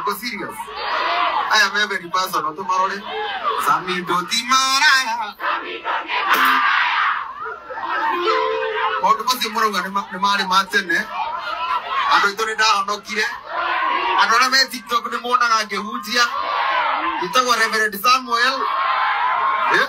Uko serious? I am every person on tomorrow. Sami doti maraya. Maũndũ macio mũrauga nĩ ma- nĩ marĩ ma tene andũ aitũ nĩ ndahonokire andũ arĩa me tiktok nĩ monaga ngĩhunjia njĩtagwo reverend samuel Eh?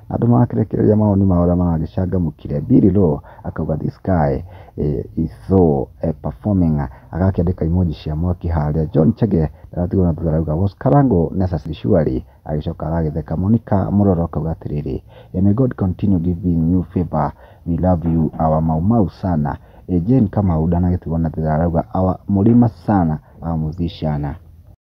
Andũ marakĩrekereria mawoni mao ũrĩa maragĩcangamũkire. Billy Low akauga this guy is so performing agakĩandĩka emoji cia mwaki harĩa. John Chege ndaratigwo na thutha arauga was Karango necessary surely agĩcoka agagĩtheka. Monica Mũroro akauga atĩrĩrĩ may God continue giving you favour we love you our Mau Mau sana. Jane Kamau ndanagĩtigwo na thutha arauga our Mũrima sana our Mũthii ciana.